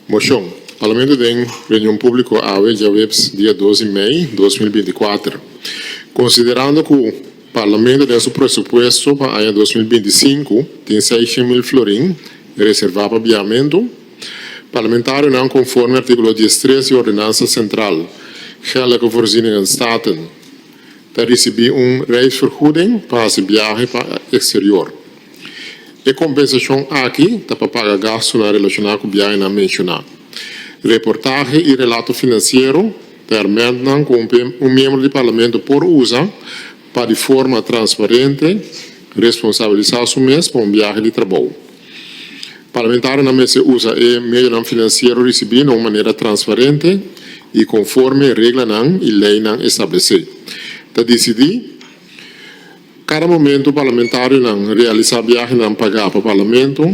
Moshon, Parlamento den reunion públiko awe djaweps dia dos di mei dos mil binti kuater, konsiderando ku Parlamento den su presupuesto pa aña dos mil binti sinku tin seishent mil florin reservá pa biahamentu, Parlamentarionan konforme artíkulo diestres di Ordenansa Sentral, Geldelijke Voorzieningen Staten. ta risibí un reisvergoeding pa hasi biahe pa eksterior. E kompensashon aki ta pa paga gastunan relashoná ku biahenan menshoná. Reportahe i relato finansiero, permètnan ku un miembro di Parlamento por usa pa di forma transparente responsabilisá su mes pa un biahe di trabou. Parlamentarionan mester usa e medionan finansiero risibí na un manera transparente i konforme reglanan i leinan establesé. Ta disidí kada momentu parlamentarionan realisá biahenan pagá pa Parlamento.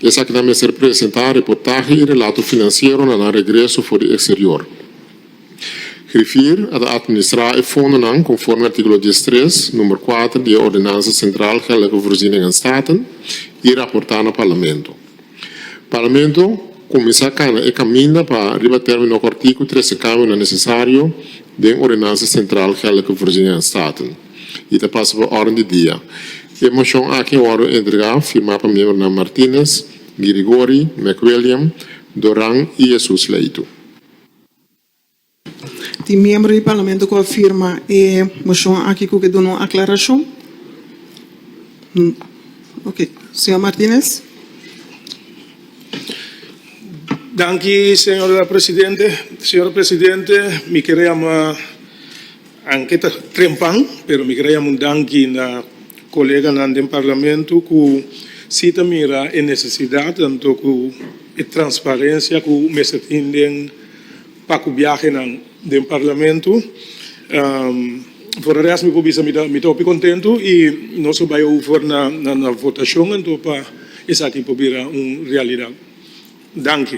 Esakinan mester presentá reportahe i relato finansiero na nan regreso for di eksterior. Griffier a ta atministrá e fondonan konforme artíkulo dies tres, number kuater di e Ordenansa Sentral Geldelijke Voorzieningen en Staten i raportá na Parlamento. Parlamento kuminsá kana e kaminda pa riba término ku artíkulo trese kambionan nesesario den Ordenansa Sentral Geldelijke Voorzieningen en Staten i ta pasa pa órden di dia. E moshon aki a wòrdu entregá firmá pa miembronan Martínez, Guirigori, McWilliam, Doran i Jesús Leytu. Tin miembro di parlamento ku a firma e moshon aki ku ke duna un aklarashon? Oke, señor Martinez. Danki, señor presidente. Señor presidente, mi kere yama. Anke ta trempan pero mi kere un danki na koleganan den parlamento ku si ta mira e nesesidat anto ku e transparensia ku mester tin den paku biahenan den parlamento. Fora di esei mi por bisa mi ta hopi kontentu i nos lo bai over na votashon anto pa esaki por bira un realidat. Danki.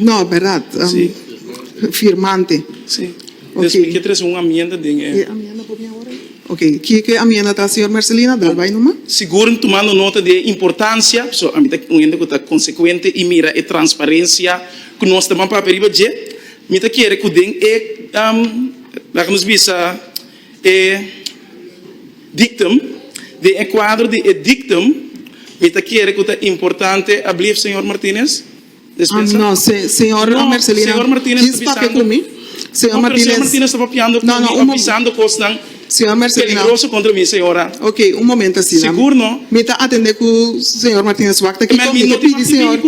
No, berdad. Si. Firmante. Si. Des mi ke trese un amienda den e. E amienda por mi awor ei. Ok, ki e amienda ta, señor Mercelina? Dal bai numa. Sigur tumando nota di e importancia, so ami ta un hende ku ta consecuente i mira e transparencia ku nos ta ban papia riba dje. Mi ta kere ku den e, laga nos bisa. E dictum, Den e cuadro di e dictum, mi ta kere cu ta importante, ablieft señor Martinez, Despensa. No, señor Mercelina, kis papia cu mi, señor Martinez. No, pero señor Martinez ta papiando cu mi, avisando cosnan peligroso contra mi, señora. Ok, un momento asina. Sigur no. Mi ta atende cu señor Martinez wak ta aki con mi. Mi ta pidi señor.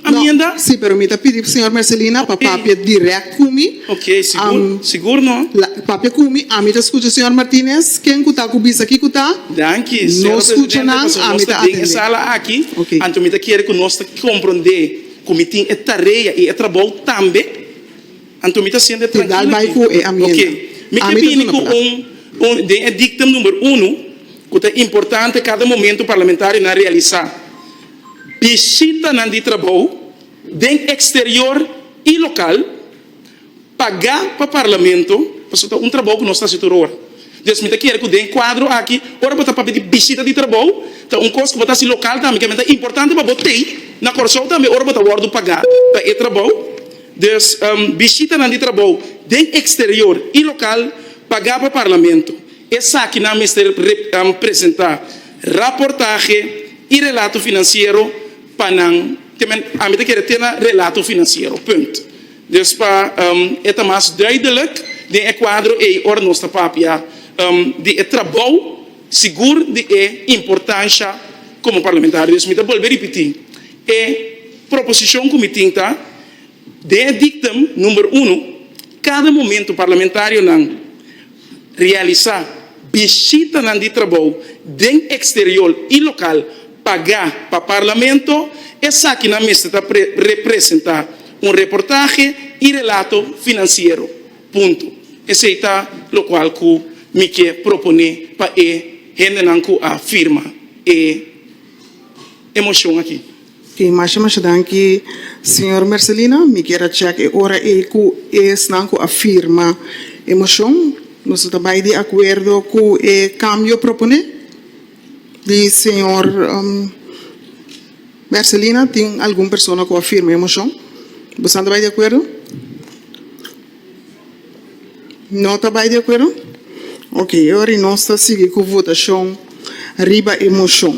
Aminda? No, si, pero mi ta pidi Señor Mercelina pa papia direct cu mi. Ok, sigur, sigur no. La, papia cu mi, ami ta scucha Señor Martinez, ken cu ta cu bisa kico ta. Danki, Señor Presidente, pasobra nos ta den e sala aki, anto mi ta kere cu nos ta compronde cu mi tin e tarea y e trabou tambe, anto mi ta siente trankilo aki. Ti dal bay cu e aminda. Ok, mi ke bini cu un, un, den e dictum number uno, cu ta importante cada momento parlamentarionan realisa. bishitanan di trabou den eksterior i lokal pagá pa Parlamento, pasobra ta un trabou ku nos ta hasi tur ora. Entonces mi ta kere ku den kuadro aki ora bo ta papia di bishita di trabou ta un kos ku bo ta hasi lokal tambe ke men ta importante pa bo tei na Kòrsou tambe ora bo ta wòrdu pagá pa e trabou. Dus bishitanan di trabou den eksterior i lokal pagá pa Parlamento esakinan mester presentá. Raportahe y relato financiero pa nan temen ami ta kere tena relato financiero punt. Dus pa e ta mas duidelijk den e cuadro ey ora nos ta papia di e trabou sigur di e importancia como parlamentario. Dus mi ta bolbe ripiti e proposicion cu mi tin ta. Den e dictum number uno, cada momento parlamentarionan realisa bishitanan di trabou den exterior y local pagá pa Parlamento, esakinan mester ta representa un reportaje y relato financiero. Punto. Esey ta locual cu mi ke propone pa e hendenan cu a firma e motion aki. E masha masha danki señor Mercelina, mi kier a chek e ora ei ku esnan ku a firma e moshon nos no ta bai di akuerdo ku e kambio proponé di señor Mercelina. Tin algun persona ku a firma e moshon? Bosan ta bai di akuerdo? No ta bai di akuerdo? Oke, e ora ei nos ta sigui ku votashon riba e moshon.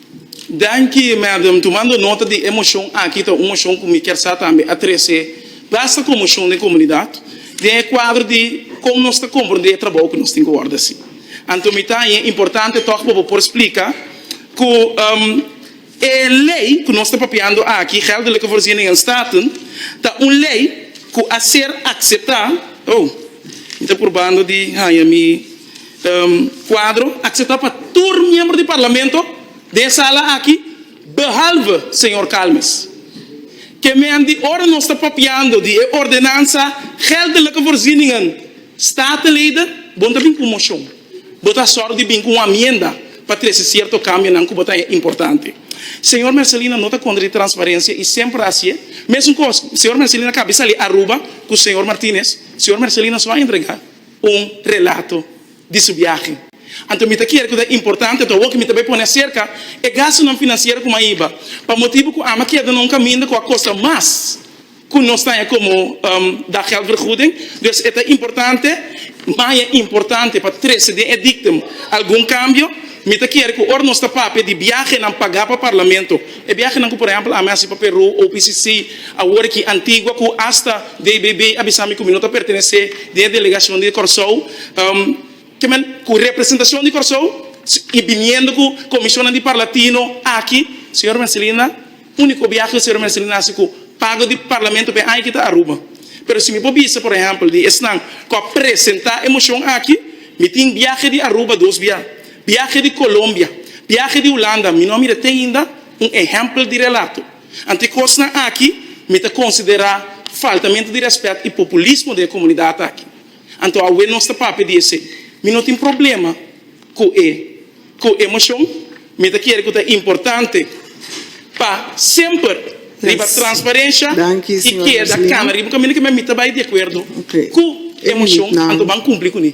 Danki Madam, tumando nota di e moshon aki ta un moshon ku mi kier sa tambe a trese basta komoshon den komunidat den e kuadro di kon nos ta komprendé e trabou ku nos tin ku wòrdu hasi. Anto mi ta haña e importante tòg pa bo por splika ku e lei ku nos ta papiando aki, Geldelijke Voorziening en Staten, ta un lei ku a ser akseptá, oh mi ta purbando di haña mi. Kuadro akseptá pa tur miembro di Parlamento den e sala aki behalve señor Calmes. Kemen di ora nos ta papiando di e ordenansa geldelijke voorzieningen Statenleden bon ta bin ku un moshon. Bo ta sòru di bin ku un amienda pa trese sierto kambionan ku bo ta e importante. Señor Mercelina no ta kontra di transparensia i semper a hasié mesun kos. Señor Mercelina ka bin sali Aruba ku señor Martinez, señor Mercelina so a entregá. un relato di su biahe. Anto mi ta kere ku ta importante pa bo ku mi ta bai pone aserka e gastunan finansiero ku maiba pa motibu ku ama keda na un kaminda ku a kosta mas ku nos taña komo da gèldvergoeding. Dus e ta importante, maia importante pa trese den e diktum algun kambio. Mi ta kere ku ora nos ta papia di biahenan pagá pa parlamento, E biahenan ku por ehempel ami a hasi pa Peru, OPCC, awor aki Antigua ku asta DBB a bisa mi ku mi no ta pertenesé den e delegashon di Kòrsou, ke men ku representashon di Kòrsou i biniendo ku komishonnan di Parlatino aki, señor Mercelina, úniko biahe ku señor Mercelina a hasi ku pago di Parlamento pa e aña aki ta Aruba. Pero si mi por bisa por ehempel di esnan ku a presentá e moshon aki, mi tin biahe di Aruba dos bia. Biahe di Colombia. Biahe di Hulanda, mi no a mira t'ainda un ehempel di relato. Anto e cosnan aki mi ta considera faltamente di respet y populismo den e comunidad aki. Anto awe nos ta papia di esey. Mi no tin problema cu e cu e mocion, mi ta kere cu ta importante. pa semper riba transparencia y keda cana riba camino que mimita bay di acuerdo cu e mocion anto ban cumpli cuni.